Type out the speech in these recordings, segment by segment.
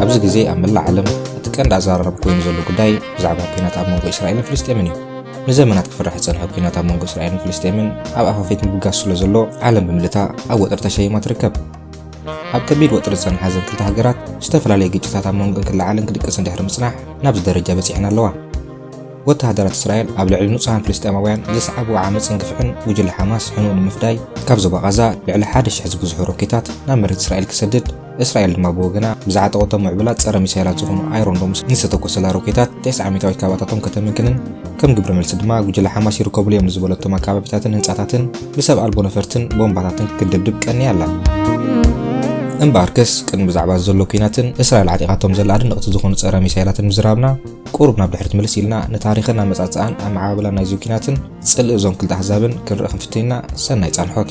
ኣብዚ ግዜ ኣብ መላእ ዓለም እቲ ቀንዲ ኣዘራራቢ ኮይኑ ዘሎ ጉዳይ ብዛዕባ ኲናት ኣብ መንጎ እስራኤልን ፍልስጤምን እዩ ንዘመናት ክፍራሕ ዝጸንሐ ኲናት ኣብ መንጎ እስራኤልን ፍልስጤምን ኣብ ኣፋፌት ምብጋስ ስለ ዘሎ ዓለም ብምልታ ኣብ ወጥሪ ተሸይማ ትርከብ። ኣብ ከቢድ ወጥሪ ዝጸንሓ እዘን ክልተ ሃገራት ዝተፈላለየ ግጭታት ኣብ መንጎን ክለዓልን ክድቅስን ድሕሪ ምጽናሕ ናብዚ ደረጃ በጺሐን ኣለዋ። ወተሃደራት እስራኤል ኣብ ልዕሊ ንጹሃን ፍልስጤማውያን ዘስዓብዎ ዓመጽን ግፍዕን ጉጅለ ሓማስ ሕኑኡ ንምፍዳይ ካብ ዞባ ቓዛ ልዕሊ ሓደ ሽሕ ዝብዝሑ ሮኬታት ናብ መሬት እስራኤል ክሰድድ እስራኤል ድማ ብወገና ብዝዓጠቐቶ ምዕቡላት ጸረ ሚሳይላት ዝኾኑ ኣይሮን ዶምስ ንዝተተኮሰላ ሮኬታት ቴስዓ ሚእታዊት ካባታቶም ከተምክንን ከም ግብረ መልሲ ድማ ጉጅለ ሓማስ ይርከብሉ እዮም ንዝበለቶም ኣካባቢታትን ህንጻታትን ብሰብ ኣልቦ ነፈርትን ቦምባታትን ክትድብድብ ቀንያ ኣላ። እምበኣርከስ ቅድሚ ብዛዕባ ዘሎ ኲናትን እስራኤል ዓጢቓቶም ዘላ ኣድነቕቲ ዝኾኑ ጸረ ሚሳይላትን ምዝራብና ቁሩብ ናብ ድሕሪት ምልስ ኢልና ንታሪኽን ኣመጻጽኣን ኣመዓባብላን ናይዚ ኲናትን ጽልኢ እዞም ክልተ ኣህዛብን ክንርኢ ክንፍትን ኢና። ሰናይ ጻንሖት።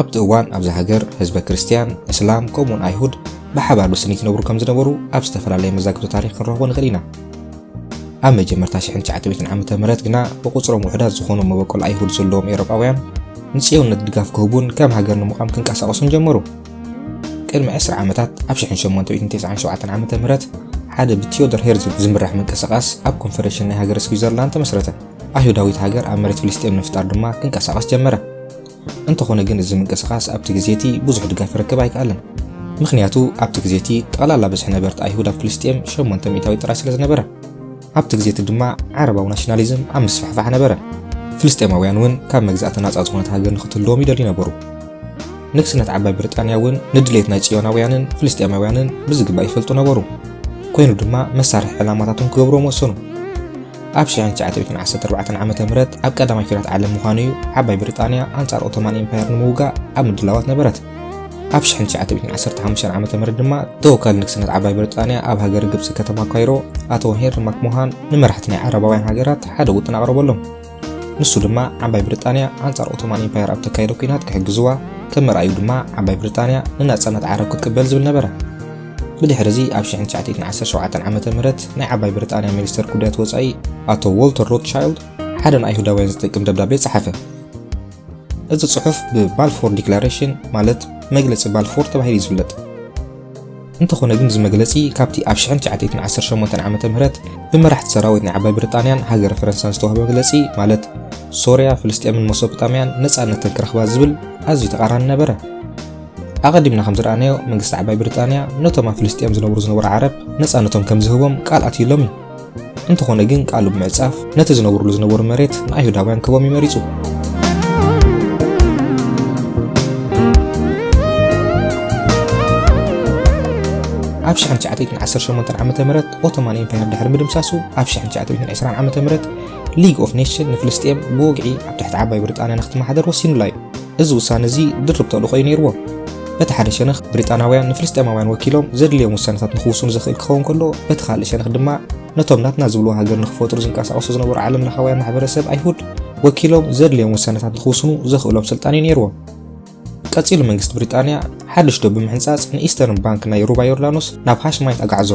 ኣብቲ እዋን ኣብዛ ሃገር ህዝበ ክርስትያን፣ እስላም ከምኡውን ኣይሁድ ብሓባር ብስኒት ይነብሩ ከም ዝነበሩ ኣብ ዝተፈላለየ መዛግብቲ ታሪኽ ክንረኽቦ ንኽእል ኢና። ኣብ መጀመርታ ሽሕን ትሽዓተ ሚእትን ዓመተ ምህረት ግና ብቑጽሮም ውሑዳት ዝኾኑ መበቆል ኣይሁድ ዘለዎም ኤውሮጳውያን ንጽዮንነት ድጋፍ ክህቡን ከም ሃገር ንምቛም ክንቀሳቐሱን ጀመሩ። ቅድሚ ዕስራ ዓመታት ኣብ ሽሕን ሸሞንተ ሚእትን ተስዓን ሸውዓተን ዓመተ ምህረት ሓደ ብቲዮዶር ሄርዝል ዝምራሕ ምንቅስቓስ ኣብ ኮንፈደሬሽን ናይ ሃገረ ስዊዘርላንድ ተመስረተ። ኣይሁዳዊት ሃገር ኣብ መሬት ፍልስጤም ንምፍጣር ድማ ክንቀሳቐስ ጀመረ። እንተኾነ ግን እዚ ምንቅስቓስ ኣብቲ ግዜ እቲ ብዙሕ ድጋፍ ክረክብ ኣይከኣለን። ምኽንያቱ ኣብቲ ግዜ እቲ ጠቕላላ ብዝሒ ነበርቲ ኣይሁድ ኣብ ፍልስጤም ሸሞንተ ሚእታዊት ጥራይ ስለ ዝነበረ፣ ኣብቲ ግዜ እቲ ድማ ዓረባዊ ናሽናሊዝም ኣብ ምስፍሕፋሕ ነበረ። ፍልስጤማውያን እውን ካብ መግዛእቲ ናጻ ዝኾነት ሃገር ንኽትህልዎም ይደልዩ ነበሩ። ንግስነት ዓባይ ብሪጣንያ እውን ንድሌት ናይ ጽዮናውያንን ፍልስጤማውያንን ብዝግባእ ይፈልጡ ነበሩ። ኮይኑ ድማ መሳርሒ ዕላማታቶም ክገብርዎም ወሰኑ። ኣብ 1914 ዓ ም ኣብ ቀዳማይ ኲናት ዓለም ምዃኑ እዩ ዓባይ ብሪጣንያ ኣንጻር ኦቶማን ኢምፓየር ንምውጋእ ኣብ ምድላዋት ነበረት ኣብ 1915 ዓ ም ድማ ተወካሊ ንግስነት ዓባይ ብሪጣንያ ኣብ ሃገር ግብፂ ከተማ ካይሮ ኣቶ ሄንሪ ማክሞሃን ንመራሕቲ ናይ ዓረባውያን ሃገራት ሓደ ውጥን ኣቕረበሎም ንሱ ድማ ዓባይ ብሪጣንያ ኣንጻር ኦቶማን ኢምፓየር ኣብ ተካየደ ኩናት ክሕግዝዋ ከም መርኣዩ ድማ ዓባይ ብሪጣንያ ንናጽነት ዓረብ ክትቅበል ዝብል ነበረ ብድሕሪ እዚ ኣብ 1917 ዓ ም ናይ ዓባይ ብሪጣንያ ሚኒስተር ጉዳያት ወፃኢ ኣቶ ዎልተር ሮትቻይልድ ሓደ ንኣይሁዳውያን ዝጥቅም ደብዳቤ ፀሓፈ እዚ ጽሑፍ ብባልፎር ዲክላሬሽን ማለት መግለጺ ባልፎር ተባሂሉ ይዝለጥ እንተኾነ ግን እዚ መግለጺ ካብቲ ኣብ 1918 ዓ ም ብመራሕቲ ሰራዊት ናይ ዓባይ ብሪጣንያን ሃገረ ፈረንሳን ዝተዋህበ መግለጺ ማለት ሶርያ ፍልስጤምን መሶጵጣምያን ነፃነተን ክረኽባ ዝብል ኣዝዩ ተቓራኒ ነበረ ኣቐዲምና ከም ዝረኣናዮ መንግስቲ ዓባይ ብሪጣንያ ነቶም ኣብ ፍልስጥኤም ዝነብሩ ዝነበሩ ዓረብ ነጻነቶም ከም ዝህቦም ቃል ኣትዩሎም እዩ። እንተኾነ ግን ቃሉ ብምዕጻፍ ነቲ ዝነብሩሉ ዝነበሩ መሬት ንኣይሁዳውያን ክቦም እዩ መሪጹ። ኣብ 1918 ዓ ም ኦቶማን ኤምፓየር ድሕሪ ምድምሳሱ ኣብ 1920 ዓ ም ሊግ ኦፍ ኔሽን ንፍልስጥኤም ብወግዒ ኣብ ትሕቲ ዓባይ ብሪጣንያ ንክትመሓደር ወሲኑላ እዩ። እዚ ውሳነ እዚ ድርብ ተልእኾ'ዩ ነይርዎ። በቲ ሓደ ሸነኽ ብሪጣናውያን ንፍልስጤማውያን ወኪሎም ዘድልዮም ውሳነታት ንኽውስኑ ዘኽእል ክኸውን ከሎ፣ በቲ ካልእ ሸነኽ ድማ ነቶም ናትና ዝብልዎ ሃገር ንኽፈጥሩ ዝንቀሳቐሱ ዝነበሩ ዓለምለኻውያን ማሕበረሰብ ኣይሁድ ወኪሎም ዘድልዮም ውሳነታት ንኽውስኑ ዘኽእሎም ስልጣን'ዩ ነይርዎ። ቀጺሉ መንግስቲ ብሪጣንያ ሓድሽ ዶብ ብምሕንጻጽ ንኢስተርን ባንክ ናይ ሩባ ዮርዳኖስ ናብ ሃሽማይት ኣግዓዞ።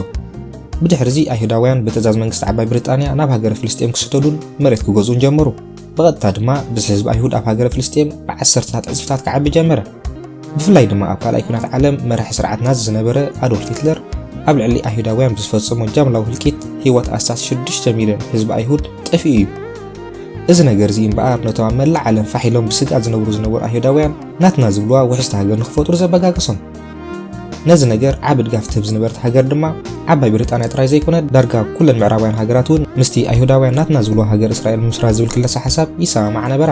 ብድሕር'ዚ ኣይሁዳውያን ብትእዛዝ መንግስቲ ዓባይ ብሪጣንያ ናብ ሃገረ ፍልስጤም ክስደዱን መሬት ክገዝኡን ጀመሩ። ብቐጥታ ድማ ብዝሒ ህዝቢ ኣይሁድ ኣብ ሃገረ ፍልስጤም ብዓሰርተታት ዕጽፍታት ክዓቢ ጀመረ። ብፍላይ ድማ ኣብ ካልኣይ ኲናት ዓለም መራሒ ስርዓት ናዚ ዝነበረ ኣዶልፍ ሂትለር ኣብ ልዕሊ ኣይሁዳውያን ብዝፈጸሞ ጃምላዊ ህልቂት ህይወት ኣስታት ሽዱሽተ ሚልዮን ህዝቢ ኣይሁድ ጠፊኡ እዩ። እዚ ነገር እዚ እምበኣር ነቶም ኣብ መላእ ዓለም ፋሕ ኢሎም ብስግኣት ዝነብሩ ዝነበሩ ኣይሁዳውያን ናትና ዝብልዋ ውሕስቲ ሃገር ንኽፈጥሩ ዘበጋገሶም። ነዚ ነገር ዓቢ ድጋፍ ትህብ ዝነበረት ሃገር ድማ ዓባይ ብሪጣንያ ጥራይ ዘይኮነት ዳርጋ ኩለን ምዕራባውያን ሃገራት እውን ምስቲ ኣይሁዳውያን ናትና ዝብልዋ ሃገር እስራኤል ምምስራት ዝብል ክለሳ ሓሳብ ይሰማማዓ ነበራ።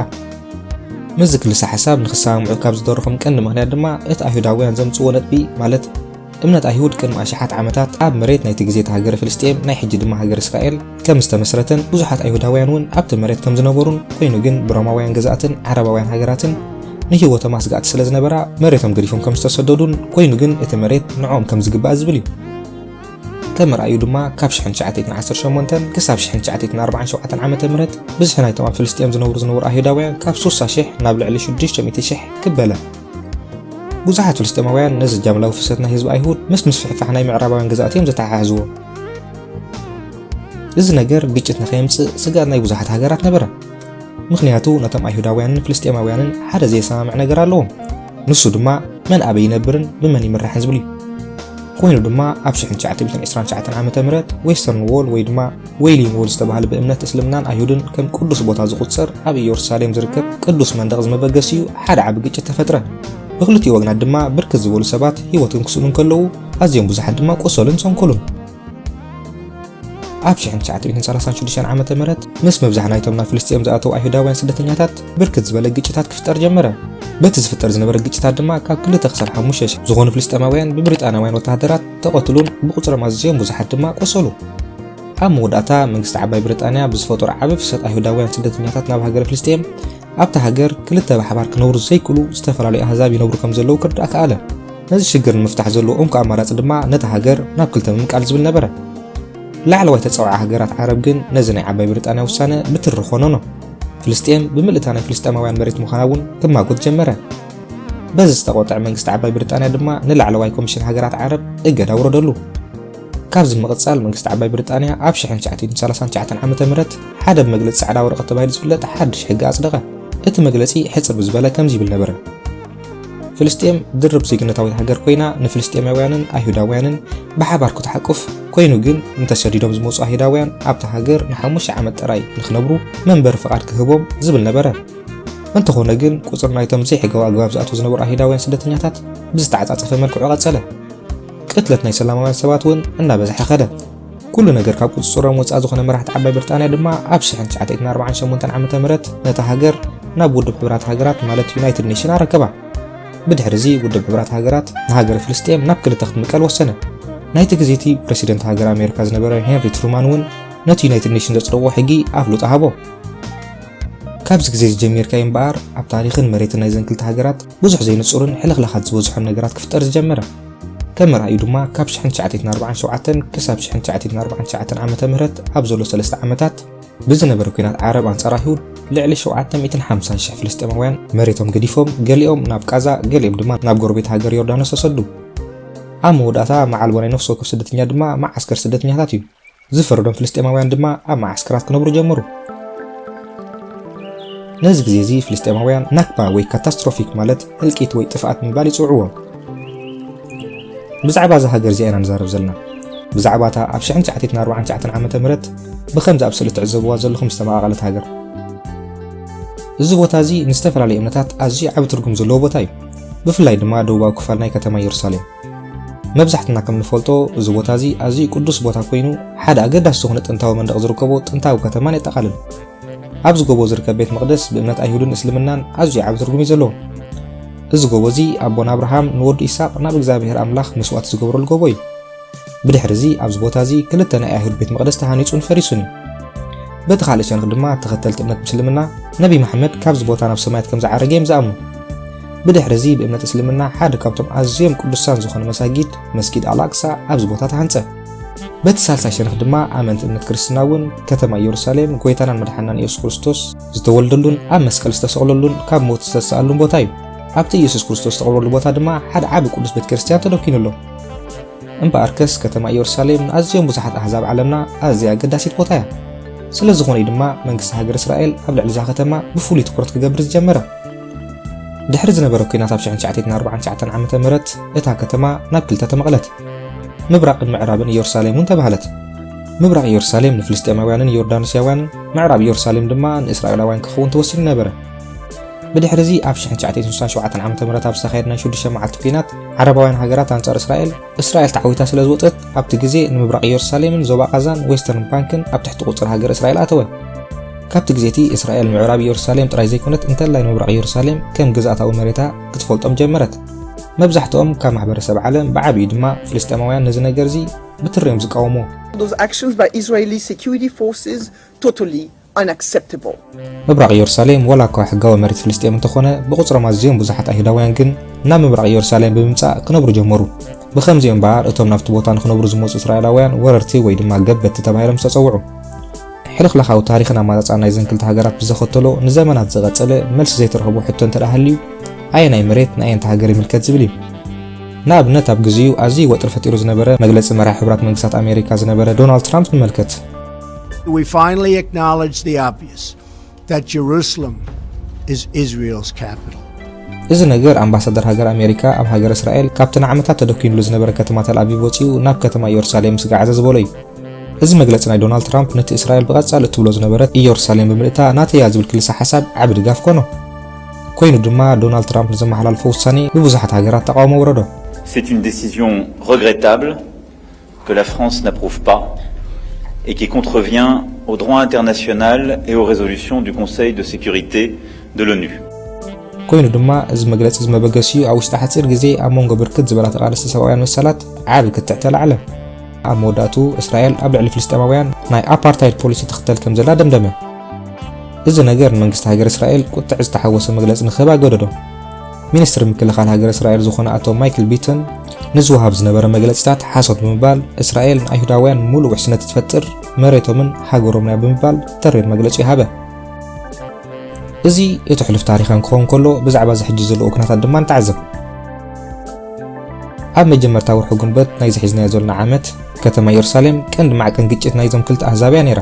ምስዚ ክልሳ ሓሳብ ንክሰማምዑ ካብ ዝደረኾም ቀንዲ ምክንያት ድማ እቲ ኣይሁዳውያን ዘምጽዎ ነጥቢ ማለት እምነት ኣይሁድ ቅድሚ ኣሽሓት ዓመታት ኣብ መሬት ናይቲ ግዜ እቲ ሃገረ ፍልስጤም ናይ ሕጂ ድማ ሃገረ እስራኤል ከም ዝተመስረተን ብዙሓት ኣይሁዳውያን እውን ኣብቲ መሬት ከም ዝነበሩን ኮይኑ ግን ብሮማውያን ገዛእትን ዓረባውያን ሃገራትን ንህይወቶም ኣስጋእቲ ስለ ዝነበራ መሬቶም ገዲፎም ከም ዝተሰደዱን ኮይኑ ግን እቲ መሬት ንዕኦም ከም ዝግባእ ዝብል እዩ ከም ርኣዩ ድማ ካብ 1918 ክሳብ 1947 ዓ ም ብዝሒ ናይቶም ኣብ ፍልስጥኤም ዝነብሩ ዝነበሩ ኣይሁዳውያን ካብ 60,000 ናብ ልዕሊ 600,000 ክበለ ብዙሓት ፍልስጤማውያን ነዚ ጃምላዊ ፍሰት ናይ ህዝቢ ኣይሁድ ምስ ምስፍሕፋሕ ናይ ምዕራባውያን ግዛእት እዮም ዘተሓሕዝዎ እዚ ነገር ግጭት ንኸየምጽእ ስግኣት ናይ ብዙሓት ሃገራት ነበረ ምኽንያቱ ነቶም ኣይሁዳውያንን ፍልስጤማውያንን ሓደ ዘየሰማምዕ ነገር ኣለዎም ንሱ ድማ መን ኣበይ ይነብርን ብመን ይምራሕን ዝብል እዩ ኮይኑ ድማ ኣብ 1929 ዓ ም ዌስተርን ዎል ወይ ድማ ዌይሊን ዎል ዝተባህለ ብእምነት እስልምናን ኣይሁድን ከም ቅዱስ ቦታ ዝቑፀር ኣብ ኢየሩሳሌም ዝርከብ ቅዱስ መንደቕ ዝመበገሲኡ ሓደ ዓቢ ግጭት ተፈጥረ ብክልቲኡ ወግናት ድማ ብርክት ዝበሉ ሰባት ህይወት ክንክስሉ እንከለዉ ኣዝዮም ብዙሓት ድማ ቆሰሉን ሰንከሉን። ኣብ 1936 ዓመተ ምህረት ምስ ምብዛሕ ናይቶም ናብ ፍልስጤም ዝኣተው ኣይሁዳውያን ስደተኛታት ብርክት ዝበለ ግጭታት ክፍጠር ጀመረ። በቲ ዝፍጠር ዝነበረ ግጭታት ድማ ካብ ክልተ ክሳብ ሓሙሽተ ሽሕ ዝኾኑ ፍልስጤማውያን ብብሪጣናውያን ወተሃደራት ተቐትሉን ብቑጽሮም ኣዝዮም ብዙሓት ድማ ቆሰሉ። ኣብ መወዳእታ መንግስቲ ዓባይ ብሪጣንያ ብዝፈጠሮ ዓቢ ፍሰት ኣይሁዳውያን ስደተኛታት ናብ ሃገረ ፍልስጤም ኣብታ ሃገር ክልተ ብሓባር ክነብሩ ዘይክእሉ ዝተፈላለዩ ኣህዛብ ይነብሩ ከም ዘለዉ ክርዳእ ከኣለ። ነዚ ሽግር ንምፍታሕ ዘለዎ እንኮ ኣማራጺ ድማ ነታ ሃገር ናብ ክልተ ምምቃል ዝብል ነበረ። ላዕለዋይ ተጻዋዒ ሃገራት ዓረብ ግን ነዚ ናይ ዓባይ ብሪጣንያ ውሳነ ብትሪ ኮነኖ። ፍልስጤም ብምልእታ ናይ ፍልስጤማውያን መሬት ምዃና እውን ክማጎት ጀመረ። በዚ ዝተቖጥዐ መንግስቲ ዓባይ ብሪጣንያ ድማ ንላዕለዋይ ኮሚሽን ሃገራት ዓረብ እገዳ ኣውረደሉ። ካብዚ ብምቕጻል መንግስቲ ዓባይ ብሪጣንያ ኣብ 1939 ዓመተ ምህረት ሓደ ብመግለጺ ጻዕዳ ወረቐት ተባሂሉ ዝፍለጥ ሓድሽ ሕጊ ኣጽደቐ። እቲ መግለጺ ሕጽር ብዝበለ ከምዚ ይብል ነበረ። ፍልስጤም ድርብ ዜግነታዊት ሃገር ኮይና ንፍልስጤማውያንን ኣይሁዳውያንን ብሓባር ክትሓቁፍ ኮይኑ ግን እንተሰዲዶም ዝመፁ ኣይሁዳውያን ኣብታ ሃገር ንሓሙሽተ ዓመት ጥራይ ንክነብሩ መንበሪ ፍቓድ ክህቦም ዝብል ነበረ። እንተኾነ ግን ቁፅሪ ናይቶም ዘይሕጋዊ ኣግባብ ዝኣትዉ ዝነበሩ ኣይሁዳውያን ስደተኛታት ብዝተዓፃፀፈ መልክዑ ቀፀለ። ቅትለት ናይ ሰላማውያን ሰባት እውን እናበዝሐ ከደ። ኩሉ ነገር ካብ ቁፅፅሮም ወፃእ ዝኾነ መራሕቲ ዓባይ ብርጣንያ ድማ ኣብ 1948 ዓ ም ነታ ሃገር ናብ ውድብ ሕብራት ሃገራት ማለት ዩናይትድ ኔሽን ኣረከባ። ብድሕሪ እዚ ውድብ ሕብራት ሃገራት ንሃገረ ፍልስጤም ናብ ክልተ ክትምቀል ወሰነ። ናይቲ ግዜ እቲ ፕረሲደንት ሃገር ኣሜሪካ ዝነበረ ሄንሪ ትሩማን እውን ነቲ ዩናይትድ ኔሽን ዘጽደቖ ሕጊ ኣፍልጦ ሃቦ። ካብዚ ግዜ እዚ ጀሚርካ እዩ እምበኣር ኣብ ታሪኽን መሬትን ናይዘን ክልተ ሃገራት ብዙሕ ዘይንጹርን ሕልኽላኻት ዝበዝሖን ነገራት ክፍጠር ዝጀመረ። ከም መርኣዩ ድማ ካብ ሽሕን ትሽዓተይትን ኣርባዓን ሸውዓተን ክሳብ ሽሕን ትሽዓተይትን ኣርባዓን ትሽዓተን ዓመተ ምህረት ኣብ ዘሎ ሰለስተ ዓመታት ብዝነበረ ኲናት ዓረብ ኣንጻር ኣይሁድ ልዕሊ ሸውዓተ ሚእትን ሓምሳን ሽሕ ፍልስጤማውያን መሬቶም ገዲፎም ገሊኦም ናብ ቃዛ ገሊኦም ድማ ናብ ጎረቤት ሃገር ዮርዳኖስ ተሰዱ። ኣብ መወዳእታ መዓልቦ ናይ ነፍሲ ወከፍ ስደተኛ ድማ መዓስከር ስደተኛታት እዩ። ዝፈረዶም ፍልስጤማውያን ድማ ኣብ መዓስከራት ክነብሩ ጀመሩ። ነዚ ግዜ እዚ ፍልስጤማውያን ናክባ ወይ ካታስትሮፊክ ማለት ህልቂት ወይ ጥፍኣት ምባል ይጽውዕዎ። ብዛዕባ እዛ ሃገር እዚኣ ኢና ንዛረብ ዘለና። ብዛዕባ እታ ኣብ 1949 ዓመተ ምህረት ብከምዚ ኣብ ስእሊ ትዕዘብዋ ዘለኹም ዝተመቓቐለት ሃገር። እዚ ቦታ እዚ ንዝተፈላለዩ እምነታት ኣዝዩ ዓቢ ትርጉም ዘለዎ ቦታ እዩ፣ ብፍላይ ድማ ደቡባዊ ክፋል ናይ ከተማ የሩሳሌም። መብዛሕትና ከም ንፈልጦ እዚ ቦታ እዚ ኣዝዩ ቅዱስ ቦታ ኮይኑ ሓደ ኣገዳሲ ዝኾነ ጥንታዊ መንደቕ ዝርከቦ ጥንታዊ ከተማን የጠቓልል። ኣብዚ ጎቦ ዝርከብ ቤት መቕደስ ብእምነት ኣይሁድን እስልምናን ኣዝዩ ዓቢ ትርጉም እዩ ዘለዎ። እዚ ጎቦ እዚ ኣቦና ኣብርሃም ንወዱ ኢሳቅ ናብ እግዚኣብሔር ኣምላኽ መስዋእቲ ዝገብረሉ ጎቦ እዩ። ብድሕሪ እዚ ኣብዚ ቦታ እዚ ክልተ ናይ ኣይሁድ ቤት መቕደስ ተሃኒጹን ፈሪሱን እዩ። በቲ ካልእ ሸንኽ ድማ ተኸተልቲ እምነት ምስልምና ነቢይ መሓመድ ካብዚ ቦታ ናብ ሰማያት ከም ዝዓረገ እዮም ዝኣምኑ። ብድሕሪ እዚ ብእምነት እስልምና ሓደ ካብቶም ኣዝዮም ቅዱሳን ዝኾኑ መሳጊድ መስጊድ ኣልኣቅሳ ኣብዚ ቦታ ተሃንጸ። በቲ ሳልሳይ ሸነኽ ድማ ኣመንቲ እምነት ክርስትና እውን ከተማ ኢየሩሳሌም ጎይታናን መድሓናን ኢየሱስ ክርስቶስ ዝተወልደሉን ኣብ መስቀል ዝተሰቕለሉን ካብ ሞት ዝተሰኣሉን ቦታ እዩ። ኣብቲ ኢየሱስ ክርስቶስ ዝተቐብረሉ ቦታ ድማ ሓደ ዓቢ ቅዱስ ቤተ ክርስቲያን ተደኪኑ ኣሎ። እምበኣርከስ ከተማ ኢየሩሳሌም ንኣዝዮም ብዙሓት ኣሕዛብ ዓለምና ኣዝያ ኣገዳሲት ቦታ እያ። ስለ ዝኾነ እዩ ድማ መንግስቲ ሃገር እስራኤል ኣብ ልዕሊ እዛ ከተማ ብፍሉይ ትኩረት ክገብር ዝጀመረ። ድሕሪ ዝነበረ ኲናት ኣብ ሽሕን ትሽዓተይትን ኣርብዓን ትሽዓተን ዓመተ ምህረት እታ ከተማ ናብ ክልተ ተመቕለት። ምብራቕን ምዕራብን ኢየሩሳሌም እውን ተባህለት። ምብራቕ ኢየሩሳሌም ንፍልስጤማውያንን ዮርዳኖስያውያንን፣ ምዕራብ ኢየሩሳሌም ድማ ንእስራኤላውያን ክኸውን ተወሲኑ ነበረ። ብድሕርዚ ኣብ ሽሕን ትሽዓተይትን ስሳን ሸውዓተን ዓመተ ምህረት ኣብ ዝተኻየድ ናይ ሽዱሽተ መዓልቲ ኲናት ዓረባውያን ሃገራት ኣንጻር እስራኤል፣ እስራኤል ተዓዊታ ስለ ዝወጸት ኣብቲ ግዜ ንምብራቕ ኢየሩሳሌምን ዞባ ቓዛን ዌስተርን ባንክን ኣብ ትሕቲ ቁጽሪ ሃገረ እስራኤል ኣተወን። ካብቲ ግዜ እቲ እስራኤል ምዕራብ ኢየሩሳሌም ጥራይ ዘይኮነት እንተላይ ንምብራቕ ኢየሩሳሌም ከም ግዝኣታዊ መሬታ ክትፈልጦም ጀመረት። መብዛሕትኦም ካብ ማሕበረሰብ ዓለም ብዓቢኡ ድማ ፍልስጤማውያን ነዚ ነገር እዚ ብትሪ እዮም ዝቃወምዎ። Those actions by Israeli security forces totally ምብራቕ ኢየሩሳሌም ዋላ እኳ ሕጋዊ መሬት ፍልስጤም እንተኾነ ብቑጽሮም ኣዝዮም ብዙሓት ኣይሁዳውያን ግን ናብ ምብራቕ ኢየሩሳሌም ብምምጻእ ክነብሩ ጀመሩ። ብኸምዚ እምበኣር እቶም ናብቲ ቦታ ንኽነብሩ ዝመጹ እስራኤላውያን ወረርቲ ወይ ድማ ገበትቲ ተባሂሎም ዝተጸውዑ። ሕልኽላኻዊ ታሪኽን ኣማጻጽኣን ናይዘን ክልተ ሃገራት ብዘኸተሎ ንዘመናት ዝቐጸለ መልሲ ዘይተረኽቦ ሕቶ እንተደኣ ሃልዩ ኣየናይ መሬት ንኣየንቲ ሃገር ይምልከት ዝብል እዩ። ንኣብነት ኣብ ግዜኡ ኣዝዩ ወጥሪ ፈጢሩ ዝነበረ መግለጺ መራሒ ሕቡራት መንግስታት ኣሜሪካ ዝነበረ ዶናልድ ትራምፕ ንመልከት። We finally acknowledge the obvious that Jerusalem is Israel's capital. እዚ ነገር ኣምባሳደር ሃገር ኣሜሪካ ኣብ ሃገር እስራኤል ካብቲ ንዓመታት ተደኪኑሉ ዝነበረ ከተማ ተልኣቪቭ ወፂኡ ናብ ከተማ ኢየሩሳሌም ስጋዓዘ ዝበሎ እዩ እዚ መግለፂ ናይ ዶናልድ ትራምፕ ነቲ እስራኤል ብቐጻሊ እትብሎ ዝነበረት ኢየሩሳሌም ብምልእታ ናተያ ዝብል ክልሰ ሓሳብ ዓቢ ድጋፍ ኮኖ ኮይኑ ድማ ዶናልድ ትራምፕ ንዘመሓላልፎ ውሳኔ ብብዙሓት ሃገራት ተቃውሞ ወረዶ C'est une décision regrettable que la France n'approuve pas et qui contrevient au droit international et aux résolutions du Conseil de sécurité de l'ONU. ኮይኑ ድማ እዚ መግለጺ እዚ መበገሲኡ ኣብ ውሽጢ ሓጺር ግዜ ኣብ መንጎ ብርክት ዝበላ ተቓለስቲ ሰብኣውያን መሰላት ዓቢ ክትዕ ተላዕለ። ኣብ መወዳእትኡ እስራኤል ኣብ ልዕሊ ፍልስጤማውያን ናይ ኣፓርታይድ ፖሊሲ ትኽተል ከም ዘላ ደምደመ። እዚ ነገር ንመንግስቲ ሃገረ እስራኤል ቁጥዕ ዝተሓወሶ መግለጺ ንክህብ ኣገደዶ። ሚኒስትሪ ምክልኻል ሃገረ እስራኤል ዝኾነ ኣቶ ማይክል ቢትን ንዝወሃብ ዝነበረ መግለፂታት ሓሶት ብምባል እስራኤል ንኣይሁዳውያን ሙሉእ ውሕስነት እትፈጥር መሬቶምን ሃገሮምንያ ብምባል ተሪር መግለፂ ሃበ። እዚ እቲ ሕሉፍ ታሪኽ ክኸውን ከሎ ብዛዕባ እዚ ሕጂ ዘለዎ ኩነታት ድማ ንተዓዘብ። ኣብ መጀመርታ ወርሒ ጉንበት ናይ ዝሒዝናዮ ዘለና ዓመት ከተማ ኢየሩሳሌም ቀንዲ ማዕቀን ግጭት ናይዞም ክልተ ኣህዛብ እያ ነይራ።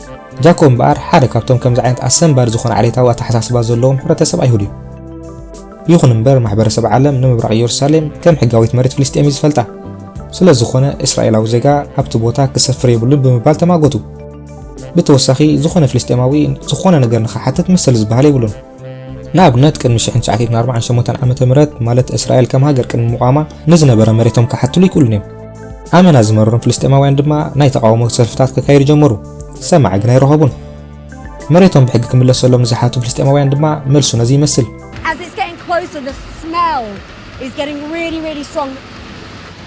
ጃኮ እምበኣር ሓደ ካብቶም ከምዚ ዓይነት ኣሰንባዲ ዝኾነ ዓሌታዊ ኣተሓሳስባ ዘለዎም ሕብረተሰብ ኣይሁድ እዩ። ይኹን እምበር ማሕበረሰብ ዓለም ንምብራቕ ኢየሩሳሌም ከም ሕጋዊት መሬት ፍልስጤም እዩ ዝፈልጣ። ስለ ዝኾነ እስራኤላዊ ዜጋ ኣብቲ ቦታ ክሰፍር የብሉን ብምባል ተማጎቱ። ብተወሳኺ ዝኾነ ፍልስጤማዊ ዝኾነ ነገር ንኽሓትት መሰል ዝበሃል የብሉን። ንኣብነት ቅድሚ 1948 ዓመተ ምህረት ማለት እስራኤል ከም ሃገር ቅድሚ ምቋማ ንዝነበረ መሬቶም ክሓትሉ ይክእሉን እዮም። ኣመና ዝመረሮም ፍልስጤማውያን ድማ ናይ ተቓውሞ ሰልፍታት ከካይዱ ጀመሩ፣ ሰማዒ ግን ኣይረኸቡን። መሬቶም ብሕጊ ክምለሰሎም ንዝሓቱ ፍልስጤማውያን ድማ መልሱ ነዚ ይመስል። As it's getting closer, the smell is getting really, really strong.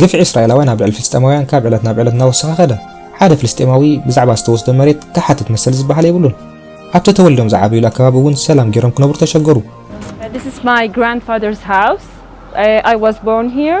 ግፍዒ እስራኤላውያን ኣብ ልዕሊ ፍልስጤማውያን ካብ ዕለት ናብ ዕለት እናወሰኸ ኸደ ሓደ ፍልስጤማዊ ብዛዕባ ዝተወስደ መሬት ክሓትት መሰል ዝበሃል የብሉን ኣብቲ ተወሊዶም ዝዓበዩሉ ኣከባቢ እውን ሰላም ገይሮም ክነብሩ ተሸገሩ This is my grandfather's house. I, I was born here.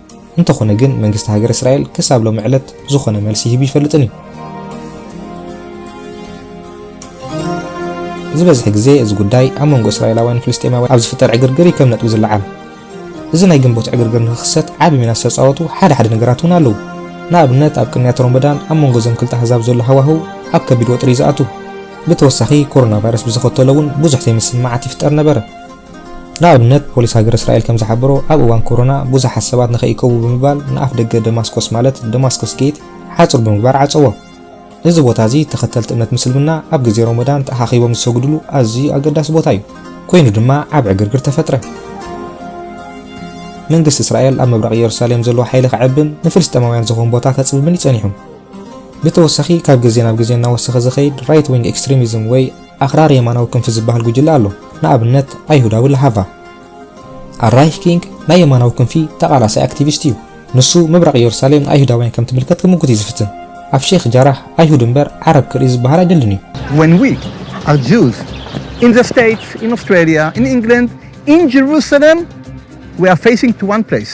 እንተኾነ ግን መንግስቲ ሃገረ እስራኤል ክሳብ ሎሚ ዕለት ዝኾነ መልሲ ሂቡ ይፈልጥን እዩ። ዝበዝሕ ግዜ እዚ ጉዳይ ኣብ መንጎ እስራኤላውያን ፍልስጤማውያን ኣብ ዝፍጠር ዕግርግር እዩ ከም ነጥቢ ዝለዓል። እዚ ናይ ግንቦት ዕግርግር ንክኽሰት ዓቢ ሚና ዝተጻወቱ ሓደ ሓደ ነገራት እውን ኣለዉ። ንኣብነት ኣብ ቅንያት ሮመዳን ኣብ መንጎ እዞም ክልተ ኣህዛብ ዘሎ ሃዋህው ኣብ ከቢድ ወጥሪ እዩ ዝኣቱ። ብተወሳኺ ኮሮና ቫይረስ ብዘኸተሎ እውን ብዙሕ ዘይምስምማዓት ይፍጠር ነበረ። ንኣብነት ፖሊስ ሃገረ እስራኤል ከም ዝሓበሮ ኣብ እዋን ኮሮና ብዙሓት ሰባት ንኸይእከቡ ብምባል ንኣፍደገ ደማስቆስ ማለት Damascus Gate ሓጹር ብምግባር ዓጸዎ። እዚ ቦታ እዚ ተኸተልቲ እምነት ምስልምና ኣብ ግዜ ሮሞዳን ተኣኻኺቦም ዝሰግድሉ ኣዝዩ ኣገዳሲ ቦታ እዩ። ኮይኑ ድማ ዓቢ ዕግርግር ተፈጥረ። መንግስቲ እስራኤል ኣብ ምብራቕ ኢየሩሳሌም ዘለዎ ሓይሊ ከዕብን ንፍልስጤማውያን ዝኸውን ቦታ ከጽብብን እዩ ጸኒሑ። ብተወሳኺ ካብ ግዜ ናብ ግዜ እናወሰኸ ዝኸይድ ራይት ዊንግ ኤክስትሪሚዝም ወይ ኣኽራሪ የማናዊ ክንፊ ዝበሃል ጉጅለ ኣሎ፣ ንኣብነት ኣይሁዳዊ ላሃቫ። ኣልራይህ ኪንግ ናይ የማናዊ ክንፊ ተቓላሳይ ኣክቲቪስት እዩ። ንሱ ምብራቕ ኢየሩሳሌም ንኣይሁዳውያን ከም ትምልከት ክምጉት እዩ ዝፍትን። ኣብ ሼኽ ጃራህ ኣይሁድ እምበር ዓረብ ክርኢ ዝበሃል ኣይደልን እዩ። When we are Jews in the States, in Australia, in England, in Jerusalem, we are facing to one place.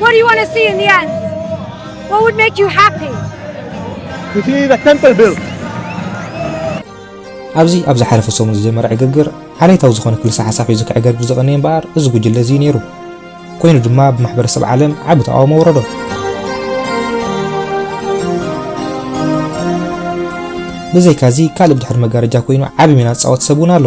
What do you want to see in the end? What would make you happy? To see the temple built. ኣብዚ ኣብ ዝሓለፈ ሰሙን ዝጀመረ ዕግግር ዓሌታዊ ዝኾነ ክልሰ ሓሳብ ሒዙ ክዕገርግር ዝቐነየ እምበኣር እዚ ጉጅለ እዚ ነይሩ ኮይኑ ድማ ብማሕበረሰብ ዓለም ዓቢ ተቃውሞ ወረዶ ብዘይካዚ ካልእ ብድሕሪ መጋረጃ ኮይኑ ዓቢ ሚና ዝጻወት ሰብ እውን ኣሎ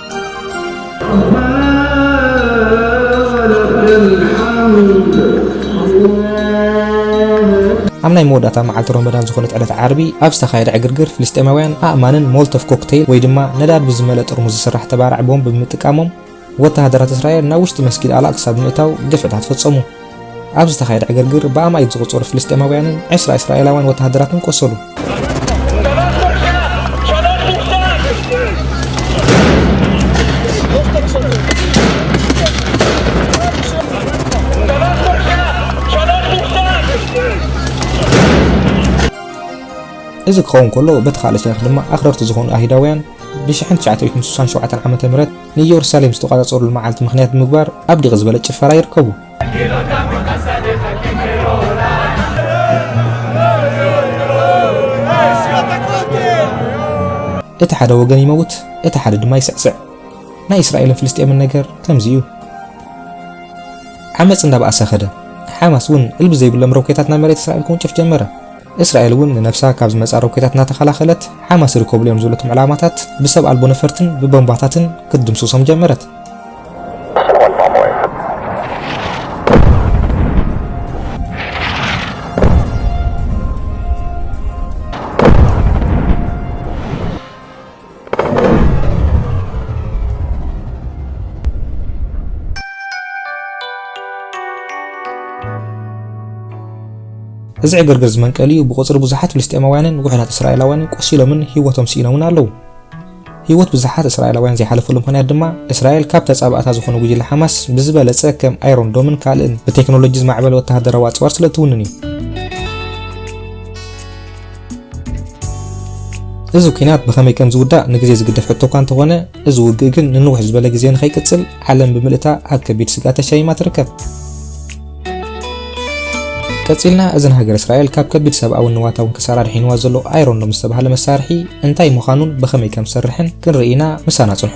ኣብ ናይ መወዳእታ መዓልቲ ሮመዳን ዝኾነት ዕለት ዓርቢ ኣብ ዝተኻየደ ዕግርግር ፍልስጤማውያን ኣእማንን ሞልቶቭ ኮክተይል ወይ ድማ ነዳዲ ብዝመልእ ጥርሙዝ ዝስራሕ ተባራዒ ቦምብ ብምጥቃሞም ወተሃደራት እስራኤል ናብ ውሽጢ መስጊድ ኣል ኣቅሳ ብምእታው ግፍዕታት ፈጸሙ። ኣብ ዝተኻየደ ዕግርግር ብኣማኢት ዝቑጸሩ ፍልስጤማውያንን ዕስራ እስራኤላውያን ወተሃደራትን ቆሰሉ። እዚ ክኸውን ከሎ በቲ ካልእ ሸነኽ ድማ ኣኽረርቲ ዝኾኑ ኣይሁዳውያን ብ1967 ዓ.ም ንኢየሩሳሌም ዝተቋጻጸሩሉ መዓልቲ ምኽንያት ብምግባር ኣብ ድቕ ዝበለ ጭፈራ ይርከቡ። እቲ ሓደ ወገን ይመውት፣ እቲ ሓደ ድማ ይስዕስዕ። ናይ እስራኤልን ፍልስጤምን ነገር ከምዚ እዩ። ዓመፅ እንዳበኣሰ ከደ። ሓማስ እውን እልቢ ዘይብሎም ሮኬታት ናብ መሬት እስራኤል ክውንጭፍ ጀመረ። እስራኤል እውን ንነብሳ ካብ ዝመጽኣ ሮኬታት እናተኸላኸለት፣ ሓማስ ይርከብሉ እዮም ዝበለቶም ዕላማታት ብሰብ ኣልቦ ነፈርትን ብቦምባታትን ክትድምስሶም ጀመረት። እዚ ዕግርግር ዝመንቀሊኡ ብቑጽሪ ብዙሓት ፍልስጤማውያንን ውሑዳት እስራኤላውያንን ቆሲሎምን ህይወቶም ስኢኖምን ኣለዉ። ህይወት ብዙሓት እስራኤላውያን ዘይሓለፈሉ ምኽንያት ድማ እስራኤል ካብ ተጻባእታ ዝኾነ ጉጅለ ሓማስ ብዝበለጸ ከም ኣይሮን ዶምን ካልእን ብቴክኖሎጂ ዝማዕበለ ወተሃደራዊ ኣጽዋር ስለ እትውንን እዩ። እዚ ኲናት ብኸመይ ከም ዝውዳእ ንግዜ ዝግደፍ ሕቶ እኳ እንተኾነ፣ እዚ ውግእ ግን ንንውሕ ዝበለ ግዜ ንኸይቅጽል ዓለም ብምልእታ ኣብ ከቢድ ስግኣት ተሻይማ ትርከብ። ቀጺልና እዚ ንሃገረ እስራኤል ካብ ከቢድ ሰብኣውን ንዋታውን ክሳራ ኣድሒንዋ ዘሎ ኣይሮን ዶም ዝተባህለ መሳርሒ እንታይ ምዃኑን ብኸመይ ከም ዝሰርሕን ክንርኢ ኢና። ምሳና ጽንሑ።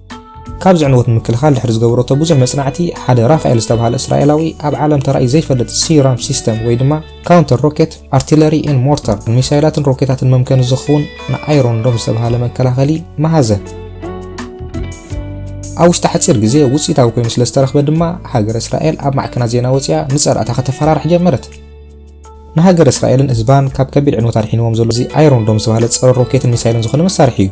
ካብዚ ዕንወት ንምክልኻል ድሕሪ ዝገበረቶ ብዙሕ መጽናዕቲ፣ ሓደ ራፋኤል ዝተባህለ እስራኤላዊ ኣብ ዓለም ተራእዩ ዘይፈልጥ ሲራም ሲስተም ወይ ድማ ካውንተር ሮኬት ኣርቲለሪ ኤን ሞርተር ንሚሳይላትን ሮኬታትን መምከኒ ዝኸውን ንኣይሮን ዶም ዝተባህለ መከላኸሊ መሃዘ። ኣብ ውሽጢ ሓፂር ግዜ ውፅኢታዊ ኮይኑ ስለ ዝተረኽበ ድማ ሃገር እስራኤል ኣብ ማዕከናት ዜና ወፂኣ ንፀላእታ ከተፈራርሕ ጀመረት ንሃገር እስራኤልን ህዝባን ካብ ከቢድ ዕንወት ኣድሒንዎም ዘሎ እዚ ኣይሮን ዶም ዝተባሃለ ፀረ ሮኬትን ሚሳይልን ዝኾነ መሳርሒ እዩ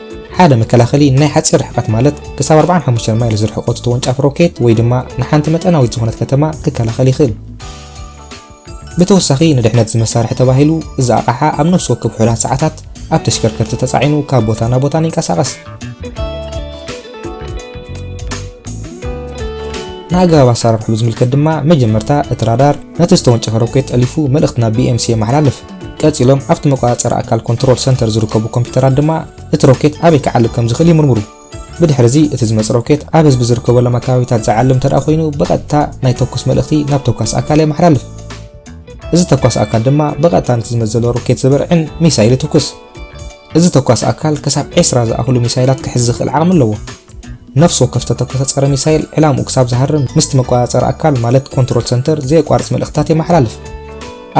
ሓደ መከላኸሊ ናይ ሓጺር ርሕቀት ማለት ክሳብ 45 ማይል ዝርሕቆ እቲ ተወንጫፊ ሮኬት ወይ ድማ ንሓንቲ መጠናዊት ዝኾነት ከተማ ክከላኸል ይኽእል። ብተወሳኺ ንድሕነት እዚ መሳርሒ ተባሂሉ እዚ ኣቕሓ ኣብ ነፍሲ ወከፍ ውሑዳት ሰዓታት ኣብ ተሽከርከርቲ ተጻዒኑ ካብ ቦታ ናብ ቦታን ይንቀሳቐስ። ንኣገባብ ኣሰራርሑ ብዝምልከት ድማ መጀመርታ እቲ ራዳር ነቲ ዝተወንጨፈ ሮኬት ጠሊፉ መልእኽቲ ናብ BMC የመሓላልፍ። ቀጺሎም ኣብቲ መቆጻጸሪ ኣካል ኮንትሮል ሰንተር ዝርከቡ ኮምፒዩተራት ድማ እቲ ሮኬት ኣበይ ክዓልብ ከም ዝኽእል ይምርምሩ። ብድሕርዚ እቲ ዝመጽእ ሮኬት ኣብ ህዝቢ ዝርከበሎም ኣከባቢታት ዝዓልብ እንተድኣ ኮይኑ ብቐጥታ ናይ ተኩስ መልእኽቲ ናብ ተኳሲ ኣካል የመሓላልፍ። እዚ ተኳሲ ኣካል ድማ ብቐጥታ ነቲ ዝመጽእ ዘሎ ሮኬት ዝበርዕን ሚሳይል ይትኩስ። እዚ ተኳሲ ኣካል ክሳብ ዕስራ ዝኣኽሉ ሚሳይላት ክሕዝ ዝኽእል ዓቕሚ ኣለዎ። ነፍሲ ወከፍ ዝተተኮሰ ጸረ ሚሳይል ዕላምኡ ክሳብ ዝሃርም ምስቲ መቆጻጸሪ ኣካል ማለት ኮንትሮል ሰንተር ዘየቋርጽ መልእኽትታት የመሓላልፍ።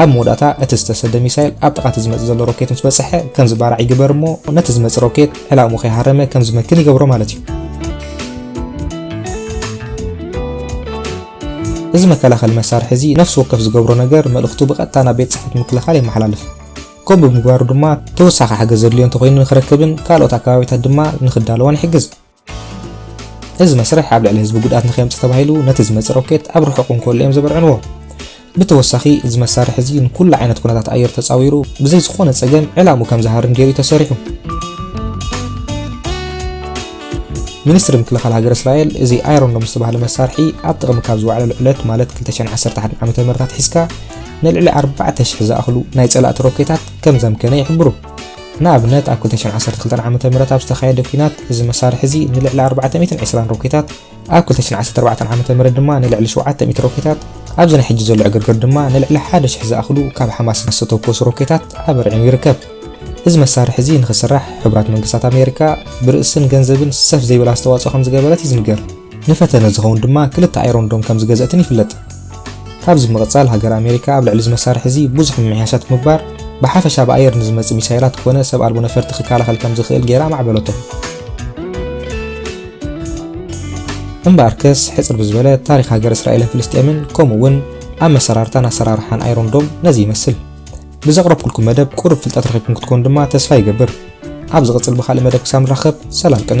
ኣብ መወዳእታ እቲ ዝተሰደ ሚሳይል ኣብ ጥቓ እቲ ዝመጽእ ዘሎ ሮኬት ምስ በጽሐ ከም ዝባራዕ ይግበር እሞ ነቲ ዝመጽእ ሮኬት ዕላምኡ ከይሃረመ ከም ዝመክን ይገብሮ ማለት እዩ። እዚ መከላኸሊ መሳርሒ እዚ ነፍሲ ወከፍ ዝገብሮ ነገር መልእኽቱ ብቐጥታ ናብ ቤት ጽሕፈት ምክልኻል የመሓላልፍ። ከምኡ ብምግባሩ ድማ ተወሳኺ ሓገዝ ዘድልዮ እንተኾይኑ ንክረክብን ካልኦት ኣከባቢታት ድማ ንክዳለዎን ይሕግዝ። እዚ መስርሕ ኣብ ልዕሊ ህዝቢ ጉድኣት ንከየምፅእ ተባሂሉ ነቲ ዝመፅእ ሮኬት ኣብ ርሑቕ እንከሎ እዮም ዘበርዕንዎ። ብተወሳኺ እዚ መሳርሒ እዚ ንኩሉ ዓይነት ኩነታት ኣየር ተፃዊሩ ብዘይ ዝኾነ ፀገም ዕላምኡ ከም ዝሃርም ገይሩ እዩ ተሰሪሑ። ሚኒስትሪ ምክልኻል ሃገረ እስራኤል እዚ ኣይሮንዶም ዝተባህለ መሳርሒ ኣብ ጥቕሚ ካብ ዝወዓለሉ ዕለት ማለት 2011 ዓ.ም ኣትሒዝካ ንልዕሊ ኣርባዕተ ሽሕ ዝኣኽሉ ናይ ጸላእቲ ሮኬታት ከም ዘምከነ ይሕብሩ። ንኣብነት፣ ኣብ ክልተ ሽሕን ዓሰርተ ክልተን ዓመተ ምህረት ኣብ ዝተኻየደ ኲናት፣ እዚ መሳርሒ እዚ ንልዕሊ ኣርባዕተ ሚእትን ዕስራን ሮኬታት፣ ኣብ ክልተ ሽሕን ዓሰርተ ኣርባዕተን ዓመተ ምህረት ድማ ንልዕሊ ሸውዓተ ሚእቲ ሮኬታት፣ ኣብዚ ናይ ሕጂ ዘሎ ዕግርግር ድማ ንልዕሊ ሓደ ሽሕ ዝኣኽሉ ካብ ሓማስ ዝተተኮሱ ሮኬታት ኣበርዒኑ ይርከብ። እዚ መሳርሒ እዚ ንኽስራሕ፣ ሕቡራት መንግስታት ኣሜሪካ ብርእስን ገንዘብን ሰፍ ዘይብል ኣስተዋጽኦ ከም ዝገበረት እዩ ዝንገር። ንፈተነ ዝኸውን ድማ ክልተ ኣይሮን ዶም ከም ዝገዘእትን ይፍለጥ። ካብዚ ብምቕጻል ሃገረ ኣሜሪካ ኣብ ልዕሊ እዚ መሳርሒ እዚ ብዙሕ ምምሕያሻት ብምግባር ብሓፈሻ ብኣየር ንዝመጽእ ሚሳይላት ኮነ ሰብ ኣልቦ ነፈርቲ ክከላኸል ከም ዝኽእል ገይራ ኣማዕበለቶ። እምበኣርከስ ሕጽር ብዝበለ ታሪኽ ሃገረ እስራኤልን ፍልስጤምን ከምኡ እውን ኣመሰራርታን ኣሰራርሓን ኣይሮን ዶም ነዚ ይመስል። ብዘቕረብኩልኩም መደብ ቁሩብ ፍልጠት ረኺብኩም ክትኮኑ ድማ ተስፋ ይገብር። ኣብ ዝቕጽል ብኻልእ መደብ ክሳብ ንራኸብ ሰላም ቅነ።